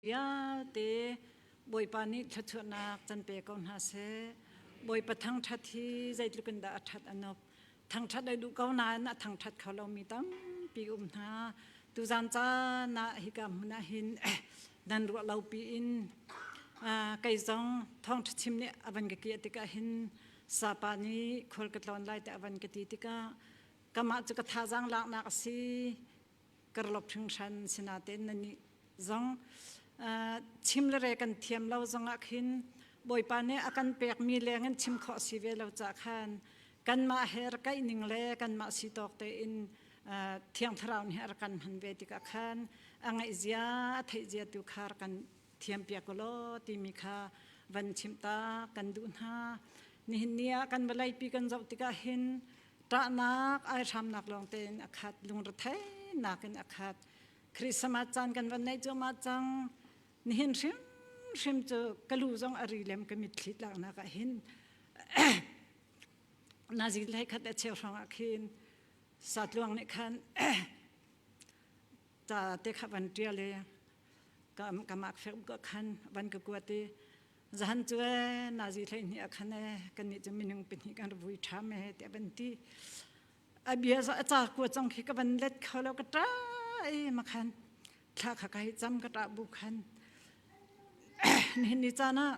Vialte Bawipa nih thluachuahnak can pe ko hna seh. Bawipa thangṭhat hi zeitluk in dah a ṭhat a nup. Thangṭhat ai duh ko nain a thangṭhat kho lomi tampi um hna. Tuzan caan ah hika hmun ah hin nan ruah lopi in kei zong thawngṭha chim nih a van ka kiah tikah hin sapa nih khual ka tlawn lai ti a van ka ti tikah kamah cu ka thazang laknak a si karlop hringhran sinatein nani zong chim le re kan thiam lo zong ah khin bawipa nih a kan pekmi leng in chim khawh si ve lo ca khan kanmah he rakaih ning le kanmah si tawk tein thiang thlarau nih a kan han ve tikah khan a ngaih zia a theih zia tu kha kan thiampiak ko law timi kha van chimh ta kan duh hna nihin ni ah kan vawleipi kan zoh tikah hin ṭahnak ai hramnak lawng tein a khat lungrethenak in a khat Christmas caan kan van neih cuahmah cang nihin hrimhrim cu ka lu zong a ri lem ka mitthli laknak ah hin nazi lei khat a cheu hrang ah khin satluang nih khan ca te kha van ṭial i ka am ka mak hrim ko khan van ka kuat i zahan cu e nazi thlei ni akhan e kan ni chu minung pahnih kan vui ṭham e ti van ti a bia za a ca kua chong khi ka van let kho lo ka ṭa i makhan thla kha kai cham ka ṭa bu khan nihin ni caan ah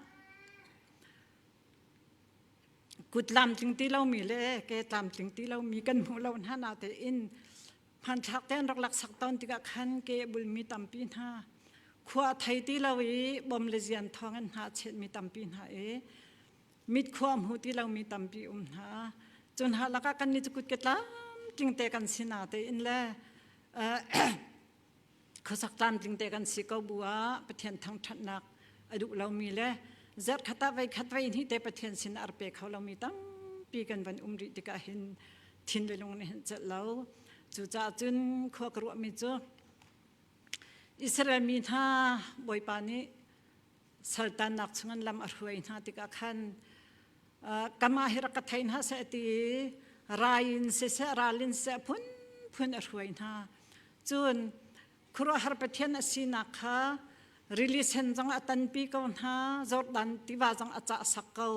kut lam tling ti lomi le ke tlam tling ti lomi kan hmuh lo hna na tein hmanthlak te an rak laksak tawn tikah khan ke bulmi tampi hna khua thei ti lo i bom le zian thawng an hna chetmi tampi hna i mit khua hmu ti lomi tampi um hna cun ha lakah kan ni cu kut ke tlam tling te kan sina te in le khuasak tlamtling te kan si ko bu ah Pathian thangthatnak a duh lomi le zerh khat ah vei khat vei ni te Pathian sin ar pe kho lomi tampi kan van um rih tikah hin thin le lung nih hin celh lo cucaah cun khua ka ruahmi cu Israel mi hna Bawipa nih saltannak chungin lam a hruai hna tikah khan kama hi rak ka thei hna seh ti rain siseh ralin siseh phunphun a hruai hna cun khuruahar pathian a sinak kha rili sen zong a tanpi ko hna jordan tiva zong a cah sak ko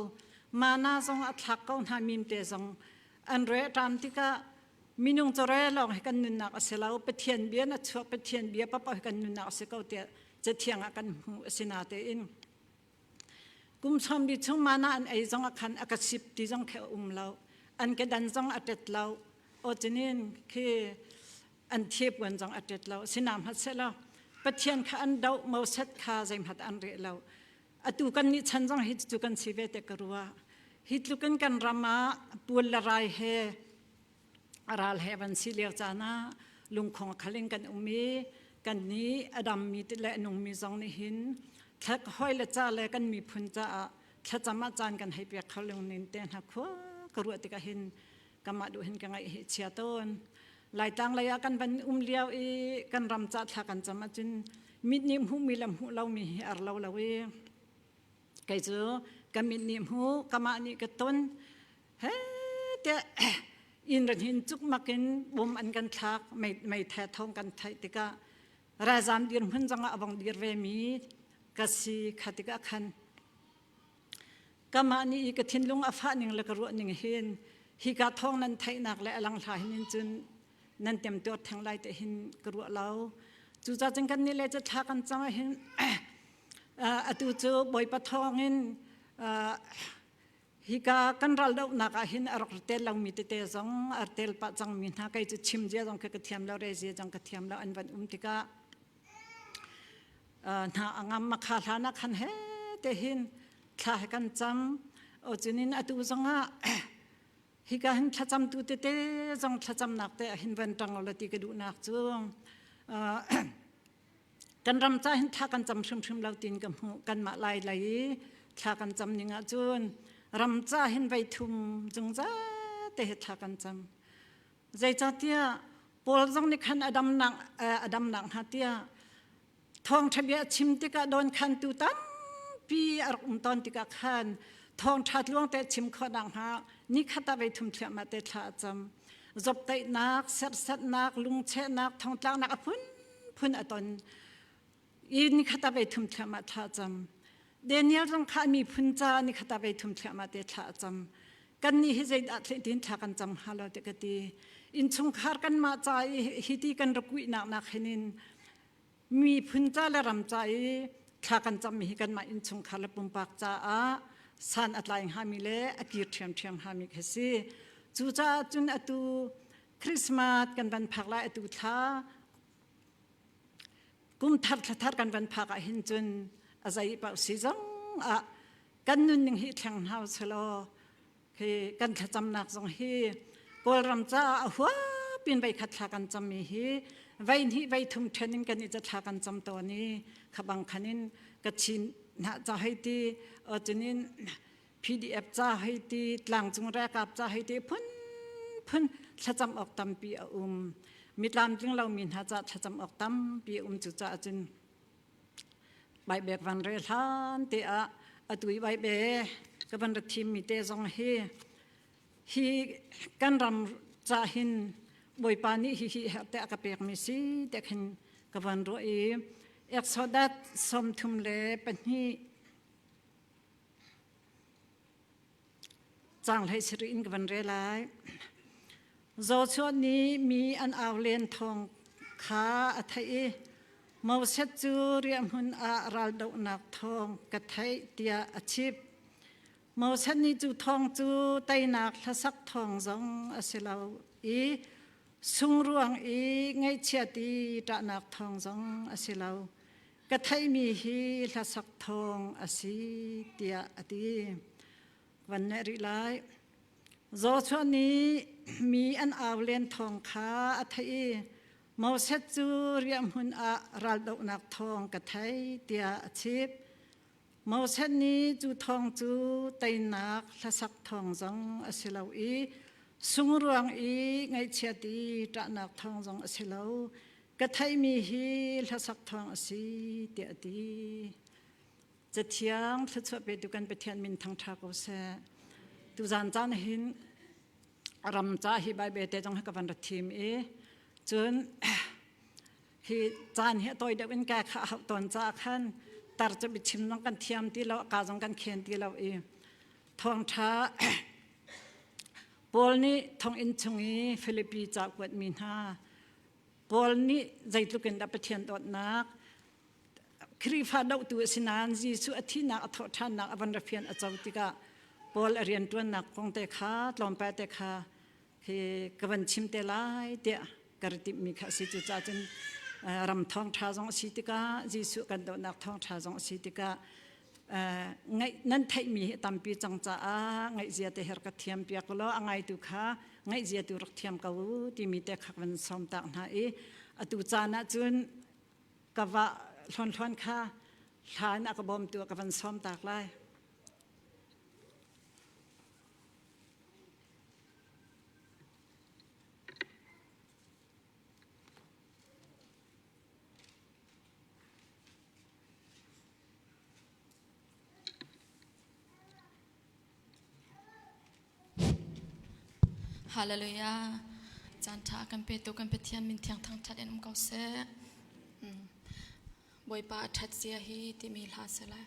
mana zong a thlak ko hna mimte zong an re ṭam tikah minung chore lawng hi kan nunnak a si lo pathian bia na chuak pathian bia papa hi kan nunnak a si ko tiah cathiang ah kan hmu a si natein kum sawmbi chung mana an ei zong khan a ka sip ti zong khi a um lo an ke dan zong a tet lo o chinin khi an thiep wan zong a tet lo sinam hat se lo pathian kha an do mo set kha zeimhat an re lo atu kan ni chan zong hi chu kan si ve te karua hi tlukan kan rama pual la rai he ral he van si lio caan ah lungkhong khal in kan um i kan nih a dammi le a nungmi zong nih hin thlat hoi le ca le kan miphun caah thlacam ah caan kan hei pek kho lungnin te hna khua ka ruah tikah hin kamah duh hin ka ngaih hi chia tawn laitlang lei ah kan van um lio i kan ram ca thla kan cam ahcun mit nih hmu mi le hmuh lo mi hi ar lo lo i kei cu ka mit nih hmu kamah nih ka ton hete inn ran hin cukmak in bum an kan thlak mei mei the thong kan theih tikah ralzam dirhmun zongah a bong dir ve mi ka si khatika khan kama ni i ka thinlung a fah ning le ka ruah ning hin hi ka thong nan theihnak le alang hla hin in cun nan tem tuar theng lai te hin ka ruah lo cu ca cun kan ni le ca thla kan cang hin atu cu bawipa thong in Hika kan ral dohnak ah hin a rak tel lomi tete zong ar tel pah cangmi hna kei cu chim zia zong khi ka thiam lo re zia zong ka thiam lo an van um tikah hna angam makha hlan ah khan he te hin thla he kan cam o cunin atu zong ah hika hin thlacamtu tete zong thlacamnak te ah hin van ṭang lo ti ka duhnak cu kan ram ca hin thla kan cam hrimhrim lo tin ka hmuh kanmah lai lei i thla kan cam ning ahcun ram ca hin vei thum zungzal te he thla kan cam zeicahtiah paul zong nih khan adamnak adamnak hna tiah thawngṭha bia a chim tikah don khan tu tampi a rak um ton tikah khan thawngṭha tluang te chim khawh nakhnga ni khata vei thum thliahmah te thla a cam zoptaihnak sersetnak lungchehnak thongtlaknak a phunphun a ton i nikhat a vei thum thiam ah thla cam Daniel zong kha miphun ca nikhat a vei thum thiam ah te thla cam kan nih hi zei dah tin thla kan cam ha lo te ka ti in chungkhar kan mah ca i hi ti kan rakui nak nak hin in miphun ca le ram ca i thla kan cammi hi kanmah innchungkhar le pumpak caah san a tlai hngami le a kir ṭhiamṭhiam hngami khi si cucaah cun atu Christmas kan van phak lai atu thla kumthar thlathar kan van phak ah hin cun a zei pauh si zong ah kan nunning hi thleng hna usulaw Hei kan thlacamnak zong hi Kawlram caah a huap in veikhat thla kan cammi hi vei hnih vei thum ṭhen in kan i tla kan cam tawn i khabang khan in kachin hnah ca hei ti cinin PDF ca hei ti tlangcung rekap ca hei ti phunphun thlacam awk tampi a um mi tlamtling lomi hna ca thlacam awk tampi a um cucaah cun Baibek van re hlan te ah atui baibbe ka van ra thim mi te zong hi hi kan ram ca hin bawipa nih hi hi her te a ka pek mi si te khin ka van ro i Exodus sawmthum le pahnih Cang hlei sir in ka van re lai. Zo chuan nih mi an au len thong kha a theih i Mo Set cu riahhmun ah ral dohnak thawng ka theih tiah a chip. Mo Set nih cu thawng cu teinak hlasak thawng zong a si lo i sungruang i ngaihchiat i ṭahnak thawng zong a si lo. ka theihmi hi hlasak thawng a si tiah a ti van ne ri lai Joshua nih mi an au len thawng kha a theih i Moses cu riahhmun ah raldohnak thawng ka thei tiah a chip Moses nih cu thawng cu teinak hlasak thawng zong a si lo i sungruang i ngaihchiat i ṭahnak thawng zong a si lo ka theihmi hi hlasak thawng a si tiah a ti cathiang thluachuah petu kan pathian min thangtha ko seh tu zan caan hin ram ca hi bible te jong ka van ra thim i cun hi caan hi toy deuh in ka kha hau ton ca khan tar chu bichim zong kan thiam ti lo ka zong kan khen ti lo i thawngtha Paul nih thonginn chung i Philippi ca kuat mi hna Paul nih zeitluk in dah Pathian dawtnak Khrihfa dohtu a si nain Jesuh a thihnak a thawh ṭhannak a van rafian a co tikah Paul a rianṭuannak kong te kha tlawmpal te kha khi ka van chim te lai tiah ka ra timhmi kha a si cu cahcun ram thawng ṭha zong a si tikah Jesuh kan dawtnak thawng ṭha zong a si tikah ngaih nan theihmi hi tampi cang caah ngaihzia te her ka thiam piak law a ngaitu kha ngaihzia tu rak thiam ko timi te khak van som tak hna i atu caan ah cun ka va hlonhlon kha hlan a ka bawm tu ka van som tak lai Hallelujah. Caanṭha kan pe tu kan Pathian min thiang thangṭhat in um ko seh. Mm. Bawipa a ṭhat sia hi timi hla se lai.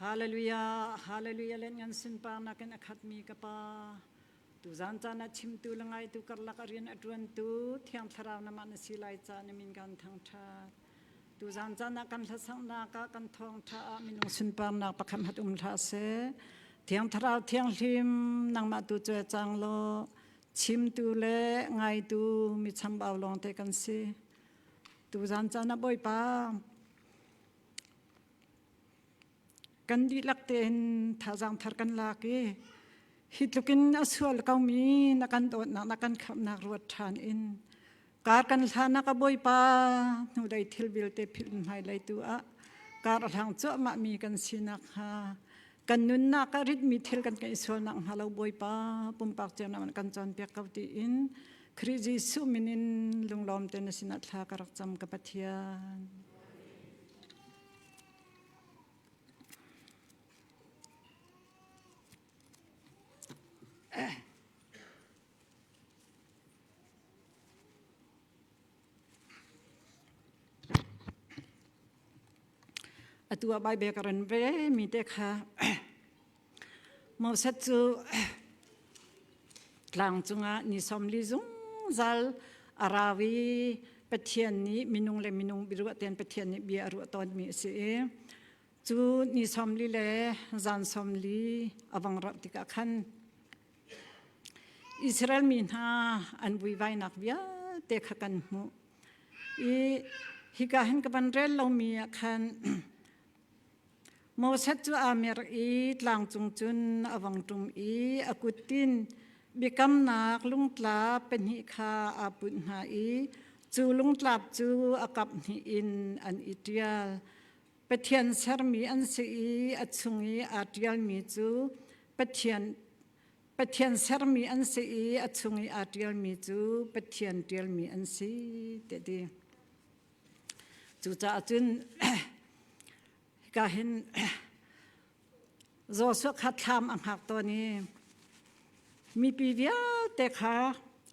Hallelujah, hallelujah len ngan sin pa nakin a khatmi ka pa. Tuzan caan a chimtu le ngaitu karlak a rian a ṭuantu Thiang Thlarau namah na si lai ca na min kan thangṭhat. Tuzan caan ah kan hlasangnak ah kan thawngṭha ah minung sunparnak pakhat hat um hlah se. Thiang Thlarau thianghlim nangmah tu cu cang law chimtu le ngaitu mi chambau lawng te kan si. Tuzan caan ah Bawipa Kan dihlak tein thazaang thar kan lak i hi tlukin a sual komi na kan dawtnak na kan khamnak ruat ṭhan in kar kan hlanak a bawipa hnulei thil vialte philh hmailei tu ah kar a hlang cuahmah mi kan sinak hnga kan nunnak a ritmi thil kan kan i sualnak hnga lo bawipa pumpak ceunak kan cawnpiak ko tiin Khrih Jesuh min in lunglawm te na sinah thla ka rak cam ka Pathian. Atu ah baibek a ran ve mi te kha Mosat cu tlang cungah ni sawmli zungzal a rau i Pathian nih minung le minung biaruah tein Pathian nih bia a ruah tawnmi a si i cu ni sawmli le zan sawmli a vong rauh tikah khan Israel mi hna an vuivainak vialte kha kan hmuh i hika hin ka van rel lomi ah khan Moses cu aa mer i tlangcung cun a vang ṭum i a kuttin biakamnak lungtla pahnih kha aa punh hna i cu lungtlap cu a kap hnih in an i ṭial. Pathian sermi an si i a chung i aa ṭialmi cu Pathian Pathian sermi an si i a chung i aa ṭialmi cu Pathian ṭialmi an si, tiah a ti. Cucaah cun hika hin Joshua kha thlam a hngak tawn i mipi vialte kha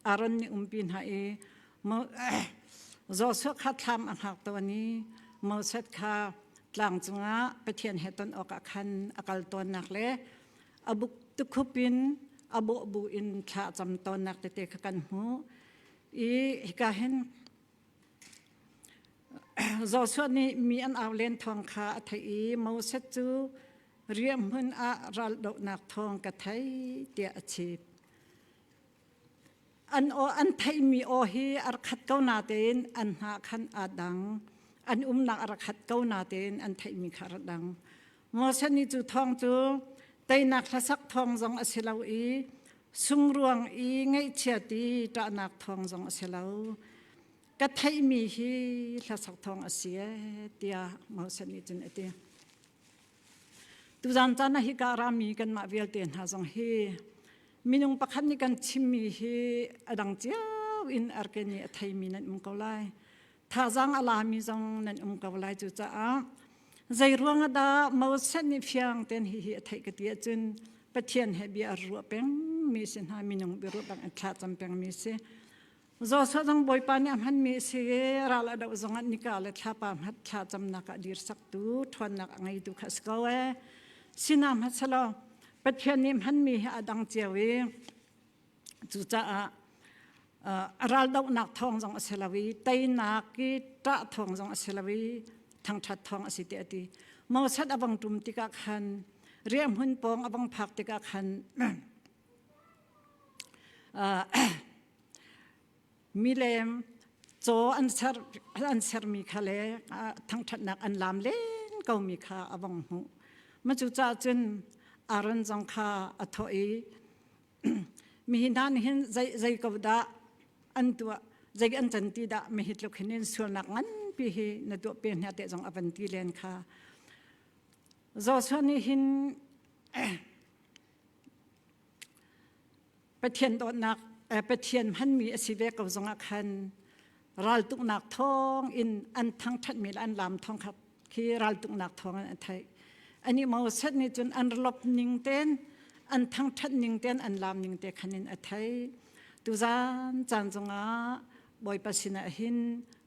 Aaron nih umpi hna i Joshua kha thlam a hngak tawn i Moses kha tlang cungah Pathian he ton awkah khan a kal tawnnak le a buk tukhup in a bawh bu in thla a cam tawnnak tete kha kan hmuh i hika hin Joshua nih mi an au len thawng kha a theih i Moses cu riahhmun ah raldohnak thawng ka thei tiah a chim. An aw an theihmi aw hi ar khat ko natein an hna khan aa dang. An umnak a rak hat ko natein an theihmi kha a rak dang. Ngosani cu thawng cu teinak hlasak thawng zong a si lo i sungruang i ngaihchiat i ṭahnak thawng zong a si lo. Ka theihmi hi hlasak thawng a si e tiah Ngosani cun a ti. Tuzan caan ah hika rami kanmah vialte hna zong hi minung pakhat nih kan chimmi hi a dang cio in arkeni a theimi nan um ko lai. thazang a lami zong nan um ko lai cu caah zei ruang dah Moses nih fiang ten hi hi a theih ka ti ahcun Pathian he bia a ruah peng mi si hna minung bia ruah bang a thla cam peng mi si Joshua zong Bawipa nih a hmanmi si ral a doh zong ah nika le thlapa hmat thla camnak ah dir saktu ṭhawnnak a ngeitu kha a si ko e sinam hmasalaw Pathian nih hmanmi hi a dang cio i Cucaah a raldohnak thawng zong a si lo i teinak i ṭah thawng zong a si lo i thangṭhat thawng a si tiah a ti. Mosad a bang ṭum tikah khan riahhmun pawng a bang phak tikah khan milem caw an ser an sermi kha le thangṭhatnak an laam len komi kha a bang hmuh. Macu cah cun Aaron zong kha a thawh i, mihi hna nih hin zei zei ko dah an tuah zei an can ti dah mihi tluk hin in sualnak nganpi hi na tuah pe hna te zong avan ti len kha Joshua nih hin Pathian dawtnak Pathian hmanmi a si ve ko zongah khan raltuknak thawng in an thangthatmi le an lam thawng kha khi raltuknak thawng an thai ani mo sat ni cun an lop ning ten an thangthat ning ten an lam ning te khanin a thai tuzan chan zunga boipa sina hin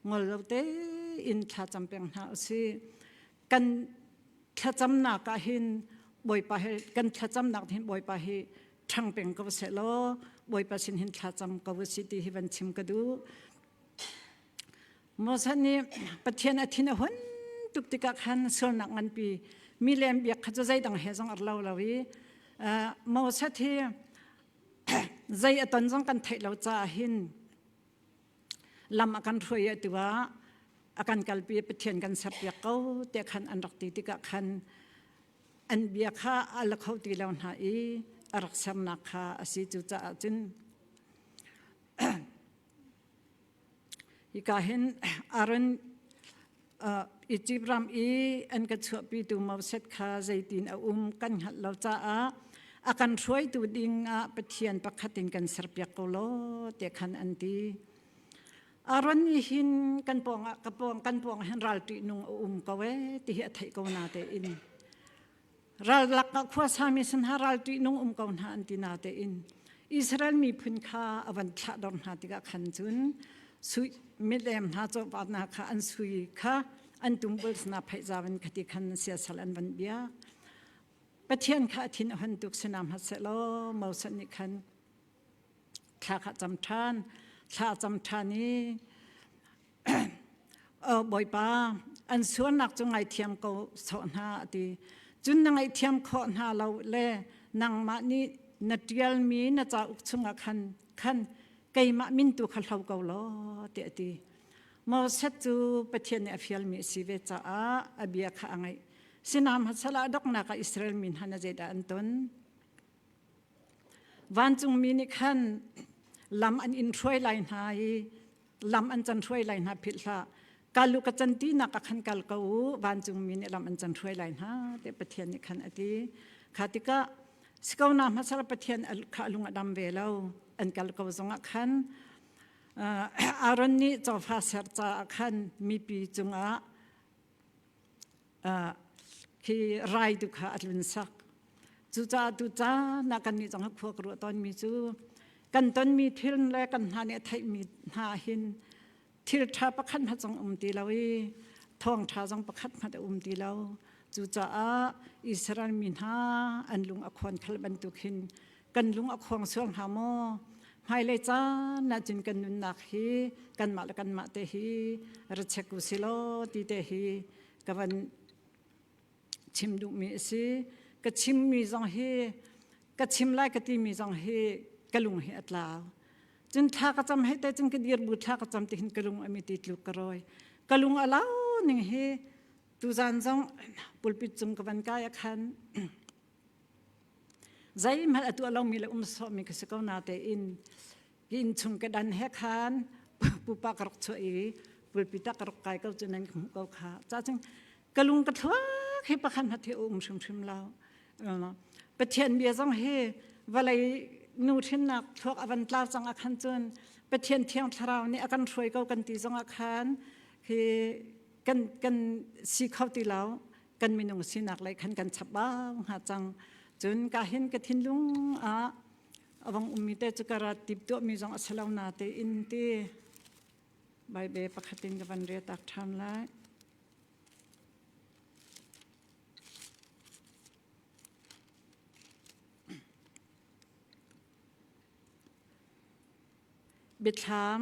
ngol lo te in thla champeng hna usi kan thlacamnak ah hin bawipa he kan thlacamnak hin bawipa hi ṭhang peng ko se law bawipa sin hin thlacam ko u si ti hi van chim ka duh Moses nih Pathian a thin a hun tuk tikah khan sualnak nganpi milem biak kha cu zeidang he zong ar lo lo i Moses hi zei a ton zong kan theih lo caah hin lam a kan hruai a tu ah a kan kalpi pathian kan serpiak ko te khan an rak ti tikah khan an bia kha a la kho ti lo hna i a rak sernak kha a si cu caah cun hika hin Aaron Egypt ram i an ka chuahpitu moset kha zeitin a um kan hngalh lo caah a kan hruaitu ding ah Pathian pakhat in kan serpiak ko lo te khan an ti. Aaron nih hin kan pawng ah ka pawng kan pawng hin ralṭihnung a um ko ee ti hi a theih ko na tein Rallak ah khuasami sin hna ral ṭihnung um ko hna an ti na tein Israel miphun kha a van thlah dor hna tikah khan cun sui milem hna chawpat hna kha an sui kha an tumbuls hna phaihzavan khati khan siasal an van bia Pathian kha a thin a hon tuk sina hmatsehlaw Moses nih khan thla kha cam ṭhan thla cam ṭhan i Bawipa an sualnak cu ngaithiam ko sawh hna a ti. Cun na ngaihthiam khawh hna lo le nangmah nih na ṭialmi na cauk chungah khan khan keimah min tu kha hlo ko law tiah a ti. Moses cu Pathian nih a fialmi a si ve caah a bia kha a ngaih. Sinam hasalah donghnak ah Israel mi hna na zeidah an ton? Vancungmi nih khan lam an in hruai lai hna i lam an can hruai lai hna philh hlah kalu ka can ti nak khan kal ko vancung mi nih lam an can hruai lai hna te pathian nih khan ati kha tika sikona ma sar pathian kha lung adam ve lo an kal ko zong khan Aaron nih cofa serca khan mipi cungah hi rai tu kha a tlun sak. Cucaah tu caan ah kannih zong a khuak ruah tawnmi cu kan tonmi thil le kan hna nih a theihmi hna hin thil ṭha pakhat hmanh zong um ti lo i thawngṭha zong pakhat hmanh a um ti lo. Cucaah Israel mi hna an lung a khawn khal bantuk hin kan lung a khuang suang hna maw hmailei caan ahcun kan nunnak hi kanmah le kanmah te hi ra check u silaw ti te hi ka van chim duhmi a si ka chimmi zong hi ka chim lai ka timi zong hi ka lung hi a tlau cun thla ka cam he te cun ka dir bu thla ka cam tihin ka lung ami ti tluk ka roi ka lung a lau ning hi tuzan zong pulpit cung ka van kai a khan zeihmanh a tuah lomi le um sawmi ka si ko na tein ki inn chung ka dan he khan pupa ka rak chuah i pulpi tak ka rak kai ko cu nan ka hmuh ko kha ca chung ka lung ka thluak hi pakhan hati um hrimhrim lo pathian bia zong hi vawlei nu hrinnak thluak a van tlau cang a khan cun pathian thiang thlarau nih a kan hruai ko kan ti zong a khan hi kan kan si kho ti lo kan minung sinak lei khan kan chap bang ha cang cun ka hin ka thinlung ah awang ummi te cu ka rat tip tuah mi zong a si lo na te in ti Bible pakhatin ka van re tak ṭhan lai Biathlam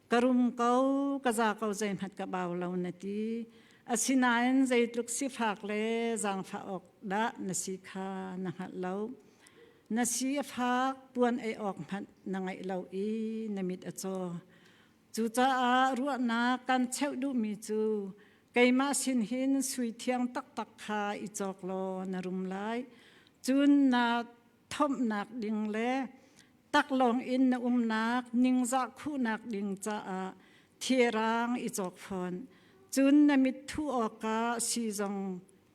ka rum ko ka za ko zeihmat ka bau lo na ti asinain zeitluk sifak le zangfa awk dah na si kha na hngalh lo na si a fak puan ei awk hmanh na ngaih lo i na mit a caw cucaah ruahnak kan cheuh duhmi cu keimah sin hin sui thiang taktak kha i cawk law na rum lai cun na thomhnak ding le taklawng in na umnak ningzah khuhnak ding caah thirang i cawk fawn cun na mithu awkah si zong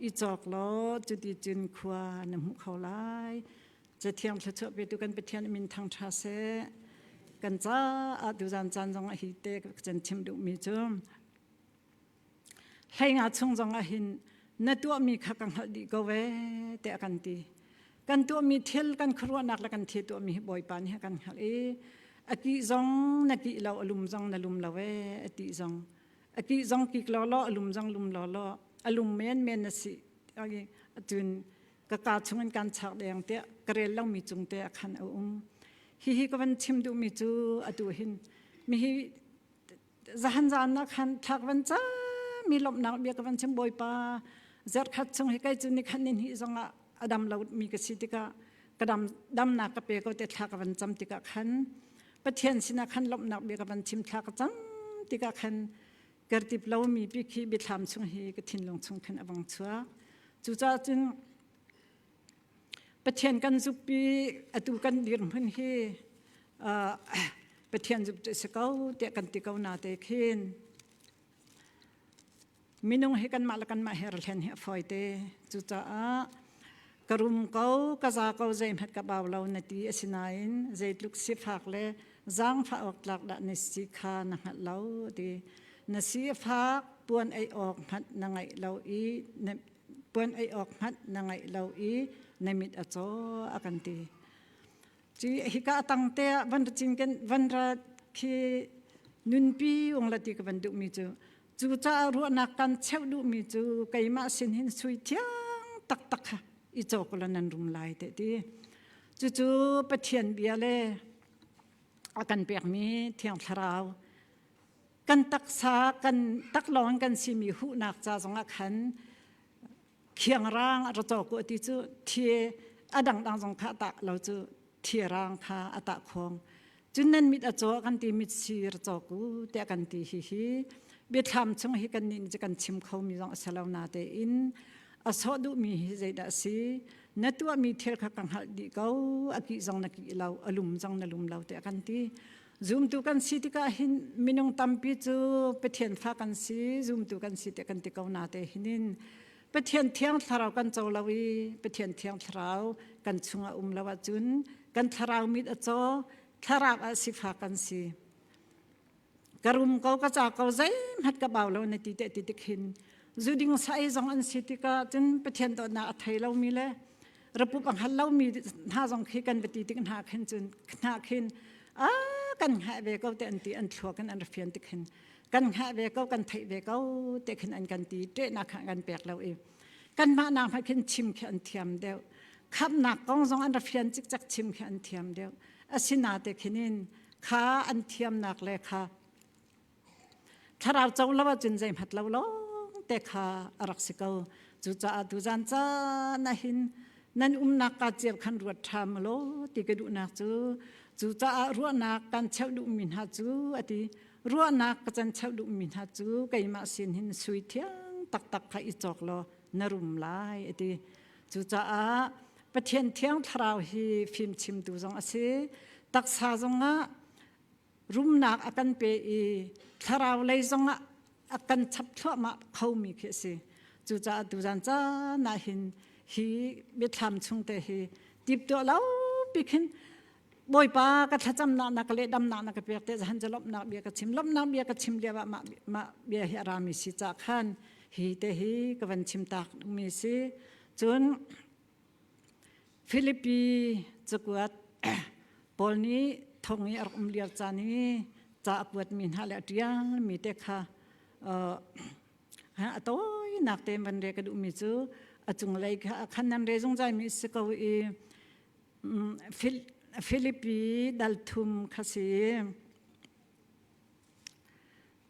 i cawk law cuti cun khua na hmuh kho lai cathiang thluachuah petu kan pathian min thang tha se kan ca ah tu zan caan zong a hi te can thim duhmi cu Hleinga chung zong ah hin na tuahmi kha ka hngalh dih ko ve tiah kan ti. Kan tuahmi thil kan khuaruahnak le kan thi tuahmi hi Bawipa nih a kan hngalh i a kih zong na kih lo a lum zong na lum lo e a ti zong a kih zong kik law law a lum zong lum law law a lum men men na si cun ka ka chung in kan chak deng tiah ka rel lomi cung te a khan a um hihi ka van chim duhmi cu atu hin mihi zahan zaan na khan thlak van cha mi lomhnak bia ka van chim bawipa zerkhat chung hi kai cu ni khan ni hni zong ah adam lo mi ka si tikah ka dam damnak ka pe ko te thla ka van cam tikah khan pathian sinah khan lomhnak bia ka van chim thla ka cam tikah khan kertip lo mi pi khi bithlam chung hi ka thinlung chung khan a bang chua cucaah cun Pathian kan zukpi atu kan dirhmun hi uh, Pathian zuk si ko te kan ti ko na te khin minung hi kan mah la kan mah her thlen hi foi te cu caah karum ko kaza ko zei mat ka baw lo na ti asinain zeitluk si phak le zang fa ok tlak da ne si kha na ngat lo ti na si phak puan ei ok mat na ngai lo i na puan ei awk hmanh na ngeih lo i na mit a caw a kan ti ci hika tang te ah van ra cing ken van ra khi nunpi ung la ti ka van duh mi cu cu caah ruahnak kan cheu duh mi cu keimah sin hin sui thiang tak tak ha i caw ko la nan rum lai te ti cucu pathian bia le a kan pek mi thiang thlarau kan taksa kan tak lawng kan simi huhnak ca zongah khan khiangrang a racaw ku ti cu thi a dangdang zong kha ta lo cu thi rang kha a ta khong cun nan mit a caw kan ti mit si racaw ku te kan ti hi hi biathlam chung hi kan nin kan chim kho mi zong a selo na te in a so du mi hi zeidah si na tua mi thil kha ka hngalh di ko a ki zong na ki lo alum zong na lum lo te kan ti Zumtu kan si tikah hin minung tampi cu Pathian fa kan si, zumtu kan si ti kan ti ko na te hinin Pathian thiang thlarau kan co lo i Pathian thiang thlarau kan chungah um lo ahcun kan thlarau mit a caw thlarau ah sifa kan si. Ka rum ko ka ca ko zeihmat ka bau lo na ti te ti tik hin zuding sai zong an si tikah cun Pathian dawtnak a thei lomi le Rapup a hngal lomi hna zong khi kan va ti tik hna khin cun hna khin a kan ngah ve ko te an ti an thluak in an ra fian tik hin kan ngah ve ko kan theih ve ko te khin an kan ti ṭehnak kha kan pek lo i kanmah nak hma khin chim khi an thiam deuh khamnak kong zong an ra fian cikcak chim khi an thiam deuh asinate khinin kha an thiamnak le kha Thlarau co lo ahcun zeihmat lo lawngte kha a rak si ko. Cucaah tuzan caan hin nan umnak ka cio khan ruat ṭham law ti ka duhnak cu cucaah ruahnak kan cheuh duhmi hna cu a ti ruahnak ka can cheuh duhmi hna cu keimah sin hin sui thiang taktak kha i cawk law na rum lai a ti cucaah Pathian thiang thlarau hi fimchimtu zong a si taksa zongah rumnak a kan pe i thlarau lei zongah a kan chap thluahmah khomi khi a si cucaah tuzan caan ah hin hi biathlam chungte hi tiptuah lo pikin bawipa ka thlacamnak na ka le damnak na ka pek te zahan ca lomnak bia ka chim lomnak bia ka chim liava ma ma bia hi arami si ca khan hi te hi ka van chim tak mi si cun Philippi cakuat Paul nih thong i a rak um liar caan i ca a kuatmi hna le a ṭialmi te kha a tawinak te in van rel ka duhmi cu a cunglei khan nan re zungzalmi si ko i Philippi dal thum kha si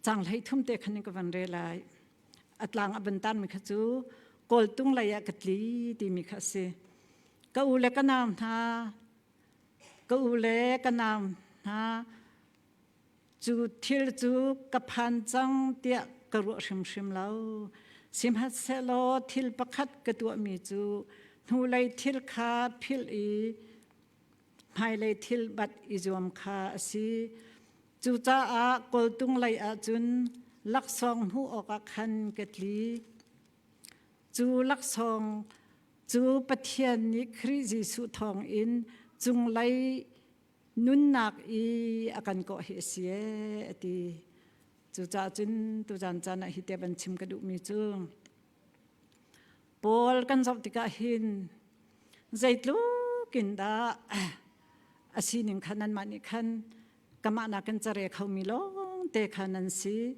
cang hlei thum te khan ka van re lai atlang aban tan mi kha chu kawltung lei ah ka tli ti mi kha si ka u le ka naam hna ka u le ka naam hna cu thil cu ka phan cang tiah ka ruah hrimhrim lo sihmanhsehlaw thil pakhat ka tuah mi cu hnulei thil kha philh i hmailei thil bat i zuam kha a si Cucaah kawltung lei ahcun laksawng hmuh awkah khan ka tli. Cu laksawng cu Pathian nih Khrih Jesuh thawngin cunglei nunnak i a kan kawh hi a si ee a ti. Cucaah cun tuzan caan ah hi te ban chim ka duhmi cu Paul kan zoh tikah hin zeitluk in dah a sining khan anmah nih khan kamah nakin care khomi lawngte kha nan si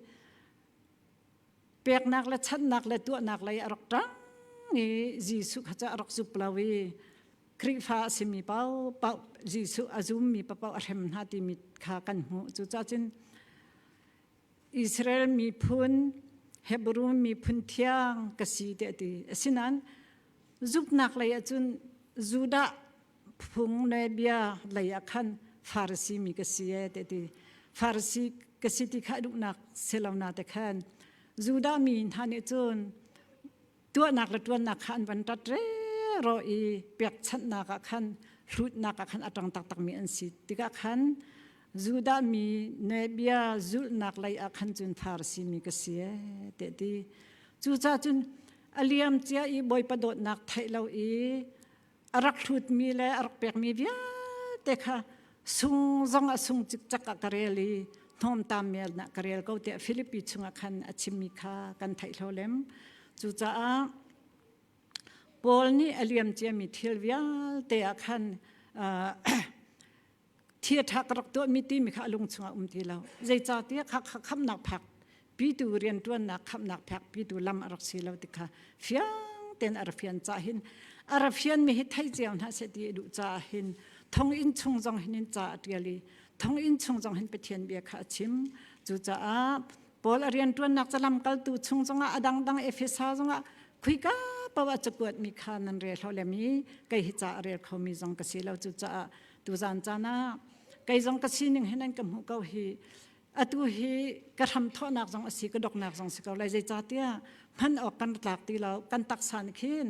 peknak le channak le tuahnak lei a rak ṭang i Jesuh kha cu a rak zup lo i Khrihfa a simi pau pau Jesuh a zummi paoh a hrem hna timi kha kan hmuh cucacun Israel miphun Hebru miphun thiang ka si ti a ti. Asinain zuknak lei ahcun Judah phung le bia lei ah khan Farasi mi ka si e ti ti. Farasi ka si ti kha duhnak si lo na te khan Judah mi hna nih cun tuahnak le tuannak kha an van tat re ro i pekchanhnak ah khan hlutnak ah khan a tang taktakmi an si tikah khan Judah mi nebia zulhnak lei ah khan cun Farasi mi ka si te ti cuca cun a liam cia i bawipa dawtnak theih lo i a rak hlutmi le a rak pekmi vialte kha sung zong a sung cikcek a ka rel i hnawmtam mial na ka rel ko tiah Philippi chungah khan a chimmi kha kan theihlo lem cucaah Paul nih a liamciami thil vialte ah khan uh, Thiaṭha ka rak tuahmi timi kha a lung chungah um ti lo. Zeicahtiah kha kha khamnak phak pitu rianṭuannak khamnak phak pitu lam a rak si lo ti kha fiang tein a ra fian ca hin a ra fianmi hi thei cio hna seh ti i duh caah hin thonginn chung zong hin in ca a ṭial i thonginn chung zong hin Pathian bia kha a chim cucaah Paul a rianṭuannak ca lamkaltu chung zongah a dangdang Efesa zongah khuika pau a cakuatmi kha nan rel hau lem i kei hi ca a rel khomi zong ka si lo cucaah Tuzan cana kei zong ka sining hin an ka hmuh ko hi atu hi ka hram thawhnak zong asi ka doknak zong si ko lai zeicahtiah hman awk kan tlak ti lo kan taksa nih khin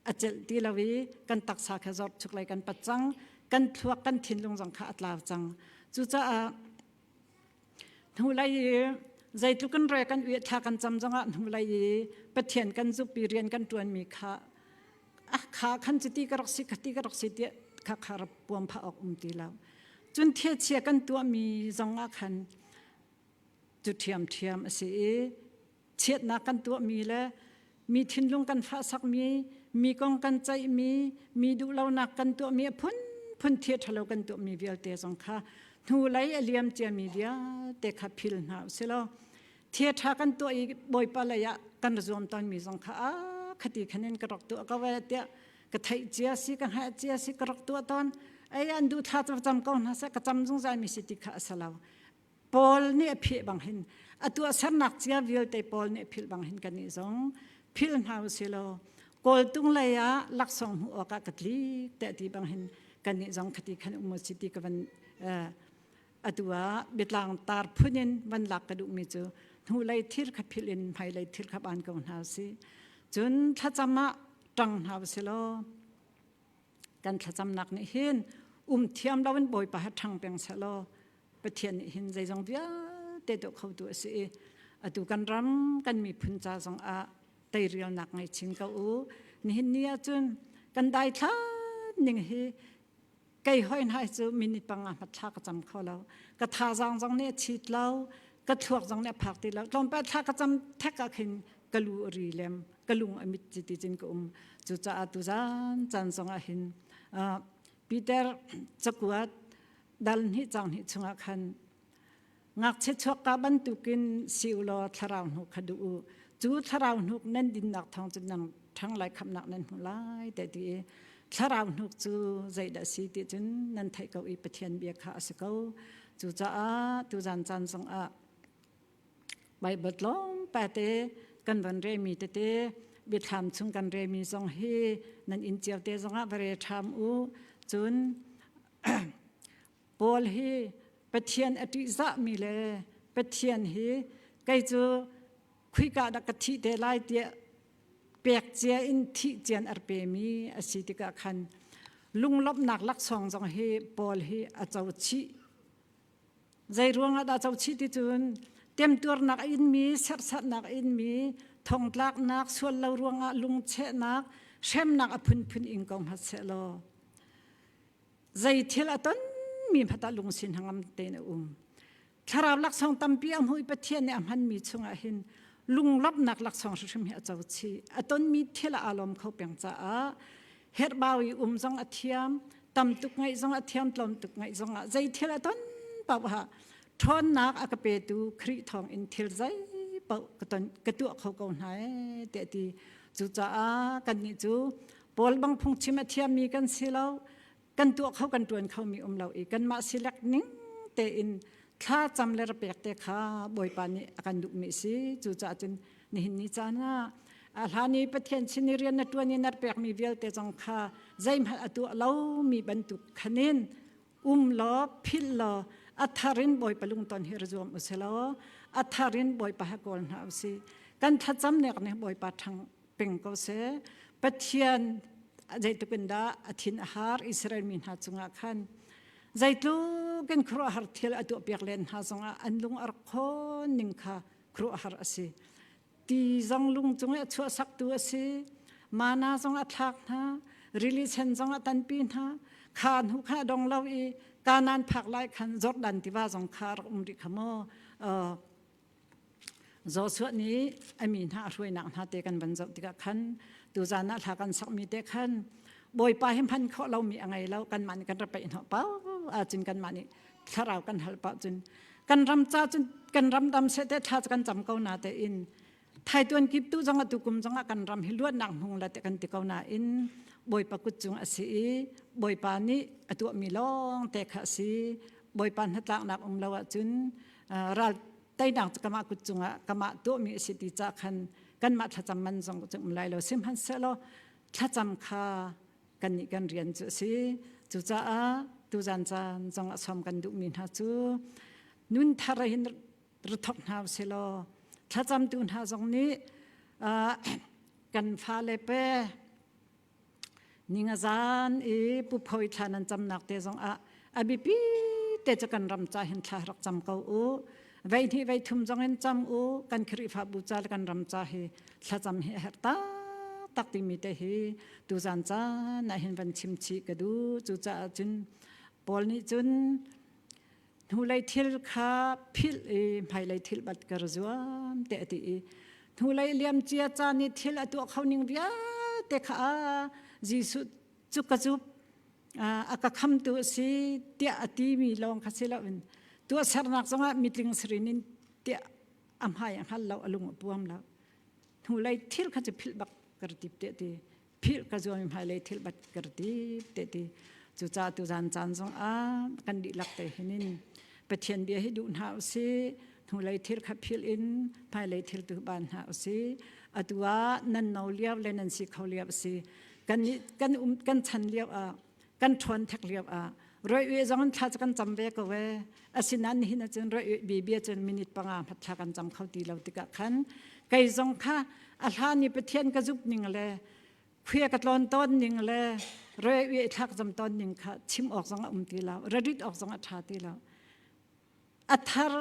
a celh ti lo i kan taksa kha zorchuk lei kan pat cang kan thluak kan thinlung zong kha a tlau cang cucaah Hnulei i zeitluk in re kan ueh thla kan cam zongah hnulei i Pathian kan zukpi rian kan ṭuanmi kha a kha khan cu ti ka rak si ka ti ka rak si tiah kha kha rap puam phah awk um ti lo. Cun thia kan tuahmi zongah khan cu ṭhiamṭhiam a si i chiatnak kan tuahmi le mi thinlung kan fahsakmi mi kong kan ceihmi mi duhlonak kan tuahmi a phunphun thia ṭhalo kan tuahmi vialte zong kha hnu lei a liam ciami vialte kha phil hna u silaw thia ṭha kan tuah i bawipa lei ah kan zuam tawnmi zong kha a khati khanin ka rak tuah ko e tiah ka theih cia si ka hngaih cia si ka rak tuah tawn ei an duh thla cam ko hna seh ka cam zungzal mi si ti kha a sa lo Paul nih a phih bang hin a tuahsernak cia vialte Paul nih philh bang hin kan nih zong philh hna u silaw kawltung lei ah laksawng hmuh awkah ka tli te ti bang hin kan nih zong khati khan um si ti ka van atu ah bitlang tar phun in van lak ka duhmi cu hnu lei thir kha philh in hmai lei thir kha ban ko hna u si cun thlacam ah ṭang hna u silaw kan thlacamnak nih hin um thiam loin bawipa ha ṭhang peng selaw Pathian nih hin zeizong vialte do kho tu a si i atu kan ram kan miphun ca zong ah teirialnak ngei chin ko u nihin ni ahcun kan dai thlan ning hi kei hoi nai cu minute panga mat thla ka cam kho lo ka tha zang zong nih a chit lo ka thluak zong nih a phak ti lo tlawmpal thla ka cam thek ah khin ka lu a ri lem ka lung a mit chiti cin ka um cucaah tu zan caan zong ah hin Peter cakuat dalhni cangni chungah khan ngakchia chuakka bantukin si u law thlarau hnu kha du u cu thlarau hnuk nan dinnak thawng cu nang ṭhang lai khamnak nan hmu lai te ti i thlarau hnuk cu zeidah si ti cun nan theih ko i Pathian bia kha a si ko cucaah tu zan caan zong ah Bible tlawmpate te kan ran re mi tete biathlam chung kan re mi zong hi nan in chiao te zongah va re ṭham u cun Paul hi Pathian a ṭihzah mi le Pathian hi kei cu khuika dah ka thih te lai tiah pek cia in thih cian ar pe mi a si tikah khan lunglawmhnak laksawng zong hi Paul hi a co chih Zeiruangah dah co chih ticun temtuarnak a inmi, serhsatnak a inmi, thongtlaknak, sual lo ruangah lungchehnak, hremnak a phunphun ing ko hmat seh law zei thil a tonmi hmat ah lungsin hangam tein a um. Thlarau laksawng tampi a hmui Pathian nih a hmanmi chungah hin lunglawmhnak laksawng hrimhrim hi a co chih. A tonmi thil a alawm kho peng caah herhbau i um zong a thiam tamtuk ngaih zong a thiam tlawmtuk ngaih zong ah zei thil a ton paoha ṭhawnnak a ka petu Khrih thawng in thil zei paoh ka ton ka tuah kho ko hna e te ti cucaah kannih cu Paul bang phungchim a thiammi kan si lo kan tuah kho kan ṭuan khomi um lo i kanmah silek ning tein thla cam le rapek te kha Bawipa nih a kan duhmi si cucaah cun nihin ni caan ah a hlan i pathian sin i rian na ṭuan i na pekmi vialte zong kha zeihmanh a tuah lomi bantuk khanin um law philh law a tharin bawipa lungton hi ra zuam u si law a tharin bawipa ha kawl hna u si kan thlacam nek nih bawipa thang peng ko se pathian zeitukin dah a thin a har Israel mi hna cungah khan zeitluk in khuruahar thil a tuah piak len hna zongah an lung ar khon ning kha kruahar a si ti zong lung cung i a chuahsaktu a si mana zong a thlak hna rili sen zong a tanpi hna kha hnu kha dong lo i kanan phak lai khan jordan tiva zong kha rak um rih kha maw Joshua nih ami hna a hruainak hna te kan van zoh tikah khan tu zan ah thla kan sakmi te khan bawipa hi hman kho lomi a ngei lo kan man kan ra peih hnawh pa acin kan man thlarau kan hal pah cun kan ram ca cun kan ram dam se te thla kan cam ko na te in thai tuan kip tu zong atu kum zong kan ram hi luatnak hmung la te kan ti ko na in bawipa kut cung asi i bawipa nih atuah mi long te kha si bawipa hnatlak nak um lo ah cun ral tainak kama kut cungah kama to mi si ti cha khan kanmah thlacam man zong cu um lai lo sihmanhselo thlacam kha kannih kan rian cu a si cucaah tuzan caan zong a som kan duhmi hna cu nun thar hin rithok hna usilaw thlacamtu hna zong nih kan fale pe ninga zan i pu phoi thla nan camnak te zong ah a biapi te cu kan ram ca hin thla rak cam ko u vei hnih vei thum zong in cam u kan khrifabu ca le kan ram ca hi thlacam hi a herh ta tak timi te hi tu zan caan ah hin van chim chi ka du cu caah cun Paul nih cun hnulei thil kha philh i hmailei thil bat kar zuam te ati i hnulei liam cia caan i thil a tuah kho ning vialte kha a Jesuh cu ka cu a ka khamtu a si tiah a timi lawng kha si loin tu a sernak zongah mitling sirin in tiah a hmai a hngal lo a lung a puam lo hnulei thil kha cu philh bak kar tip te ti philh ka zuami hmailei thil bat kar tip te ti cuca tu zan caan zongah kan dihlak te hinin pathian bia hi duh hna usih hnulei thil kha phil in hmailei thil tu ban hna usih atu ah nan no liau le nan si kho liau si kan kan um kan chan lio ah kan ṭhawn thek lio ah roiwe zong thla chu kan cam ve ko ve asinan hin cun roiwe bibia cun minute panga hmat thla kan cam kho ti lo tikah khan kei zong kha a hla ni pathian ka zup ning le phia ka tlon ton ning le roiwe thlak zam ton ning kha chim awk zong a um ti lo rarit awk zong a ṭha ti lo athar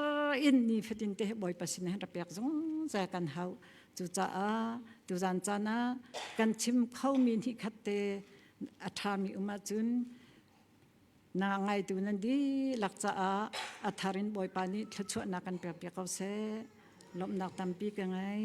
in ni fatin te bawipa sin han pek zungzal kan hau cucaah tuzan caan ah kan chim khomi ni khat te a ṭhami um ahcun na ngaitu nan dihlak caah a thar in bawipa nih thluachuahnak kan pek piak ko seh lawmhnak tampi ka ngei